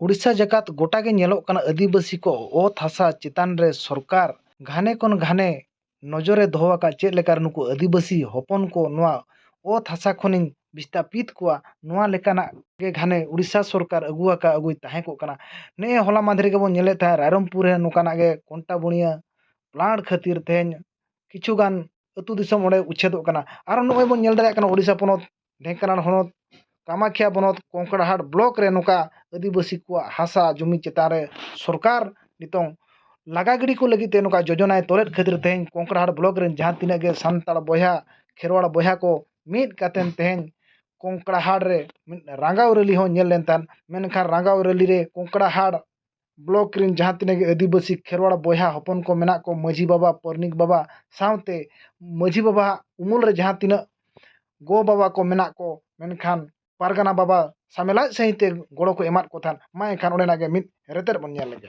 ᱩᱲᱤᱥᱥᱟ ᱡᱟᱠᱟᱛ ᱜᱚᱴᱟ ᱜᱮ ᱧᱮᱞᱚᱜ ᱠᱟᱱᱟ ᱟᱹᱫᱤᱵᱟᱹᱥᱤ ᱠᱚ ᱚᱛ ᱦᱟᱥᱟ ᱪᱮᱛᱟᱱ ᱨᱮ ᱥᱚᱨᱠᱟᱨ ᱜᱷᱟᱱᱮ ᱠᱷᱚᱱ ᱜᱷᱟᱱᱮ ᱱᱚᱡᱚᱨᱮ ᱫᱚᱦᱚ ᱟᱠᱟᱫ ᱪᱮᱫ ᱞᱮᱠᱟ ᱨᱮ ᱱᱩᱠᱩ ᱟᱹᱫᱤᱵᱟᱹᱥᱤ ᱦᱚᱯᱚᱱ ᱠᱚ ᱱᱚᱣᱟ ᱚᱛ ᱦᱟᱥᱟ ᱠᱷᱚᱱᱤᱧ ᱵᱤᱥᱛᱟᱯᱤᱛ ᱠᱚᱣᱟ ᱱᱚᱣᱟ ᱞᱮᱠᱟᱱᱟᱜ ᱜᱮ ᱜᱷᱟᱱᱮ ᱳᱰᱤᱥᱟ ᱥᱚᱨᱠᱟᱨ ᱟᱹᱜᱩ ᱟᱠᱟᱫ ᱟᱹᱜᱩᱭ ᱛᱟᱦᱮᱸ ᱠᱚᱜ ᱠᱟᱱᱟ ᱱᱮᱜᱼᱮ ᱦᱚᱞᱟ ᱢᱟᱦᱫᱮᱨ ᱜᱮᱵᱚ ᱧᱮᱞᱮᱫ ᱛᱟᱦᱮᱸᱫ ᱨᱟᱭᱨᱚᱝᱯᱩᱨ ᱨᱮ ᱱᱚᱝᱠᱟᱱᱟᱜ ᱜᱮ ᱠᱚᱱᱴᱟ ᱵᱩᱱᱤᱭᱟᱹ ᱯᱞᱟᱴ ᱠᱷᱟᱹᱛᱤᱨ ᱛᱮᱦᱮᱧ ᱠᱤᱪᱷᱩ ᱜᱟᱱ ᱟᱹᱛᱩ ᱫᱤᱥᱚᱢ ᱚᱸᱰᱮ ᱩᱪᱪᱷᱮᱫᱚᱜ ᱠᱟᱱᱟ ᱟᱨᱚ ᱱᱚᱜᱼᱚᱭ ᱵᱚᱱ ᱧᱮᱞ ᱫᱟᱲᱮᱭᱟᱜ ᱠᱟᱱᱟ ᱳᱰᱤᱥᱟ ᱯᱚᱱᱚᱛ ᱰᱷᱮᱝᱠᱟᱱᱟᱲ ᱦᱚᱱᱚᱛ ᱠᱟᱢᱟᱠᱷᱤᱭᱟ ᱵᱚᱱᱚᱛ ᱠᱚᱝᱠᱲᱟᱦᱟᱴ ᱵᱞᱚᱠ ᱨᱮ ᱱᱚᱝᱠᱟ ᱟᱹᱫᱤᱵᱟᱹᱥᱤ ᱠᱚᱣᱟᱜ ᱦᱟᱥᱟ ᱡᱩᱢᱤ ᱪᱮᱛᱟᱱ ᱨᱮ ᱥᱚᱨᱠᱟᱨ ᱱᱤᱛᱚᱝ ᱞᱟᱜᱟ ᱜᱤᱰᱤ ᱠᱚ ᱞᱟᱹᱜᱤᱫ ᱛᱮ ᱱᱚᱝᱠᱟ ᱡᱳᱡᱚᱱᱟᱭ ᱛᱚᱞᱮᱫ ᱠᱷᱟᱹᱛᱤᱨ ᱛᱮ ᱛᱮᱦᱮᱧ ᱠᱚᱝᱠᱲᱟᱦᱟᱴ ᱵᱞᱚᱠ ᱨᱮᱱ ᱡᱟᱦᱟᱸ ᱛᱤᱱᱟᱹᱜ ᱜᱮ ᱥᱟᱱᱛᱟᱲ ᱵᱚᱭᱦᱟ ᱠᱷᱮᱨᱣᱟᱲ ᱵᱚᱭᱦᱟ ᱠᱚ ᱢᱤᱫ ᱠᱟᱛᱮ ᱛᱮᱦᱮᱧ ᱠᱚᱝᱠᱲᱟᱦᱟᱴ ᱨᱮ ᱢᱤᱫ ᱨᱟᱸᱜᱟᱣ ᱨᱮᱞᱤ ᱦᱚᱸ ᱧᱮᱞ ᱞᱮᱱ ᱛᱟᱦᱮᱸᱫ ᱢᱮᱱᱠᱷᱟᱱ ᱨᱟᱸᱜᱟᱣ ᱨᱮᱞᱤ ᱨᱮ ᱠᱚᱝᱠᱲᱟᱦᱟᱴ ᱵᱞᱚᱠ ᱨᱮᱱ ᱡᱟᱦᱟᱸ ᱛᱤᱱᱟᱹᱜ ᱜᱮ ᱟᱹᱫᱤᱵᱟᱹᱥᱤ ᱠᱷᱮᱨᱣᱟᱲ ᱵᱚᱭᱦᱟ ᱦᱚᱯᱚᱱ ᱠᱚ ᱢᱮᱱᱟᱜ ᱠᱚ ᱢᱟᱹᱡᱷᱤ ᱵᱟᱵᱟ ᱯᱟᱨᱟᱱᱤᱠ ᱵᱟᱵᱟ ᱥᱟᱶᱛᱮ ᱢᱟᱹᱡᱷᱤ ᱵᱟᱵᱟᱣᱟᱜ ᱩᱢᱩᱞ ᱨᱮ ᱡᱟᱦᱟᱸ ᱛᱤᱱᱟᱹᱜ ᱜᱚ ᱵᱟᱵᱟ ᱠᱚ ᱢᱮᱱᱟᱜ ᱠᱚ ᱢᱮᱱᱠᱷᱟᱱ ᱯᱟᱨᱜᱟᱱᱟ ᱵᱟᱵᱟ ᱥᱟᱢᱮᱞᱟᱭ ᱥᱟᱺᱦᱤᱡ ᱛᱮ ᱜᱚᱲᱚ ᱠᱚ ᱮᱢᱟᱫ ᱠᱚ ᱛᱟᱦᱮᱸᱫ ᱢᱟ ᱮᱱᱠᱷᱟᱱ ᱚᱸᱰᱮᱱᱟᱜ ᱜᱮ ᱢᱤᱫ ᱨᱮᱛᱮᱫ ᱵᱚᱱ ᱧᱮᱞ ᱞᱮᱜᱮ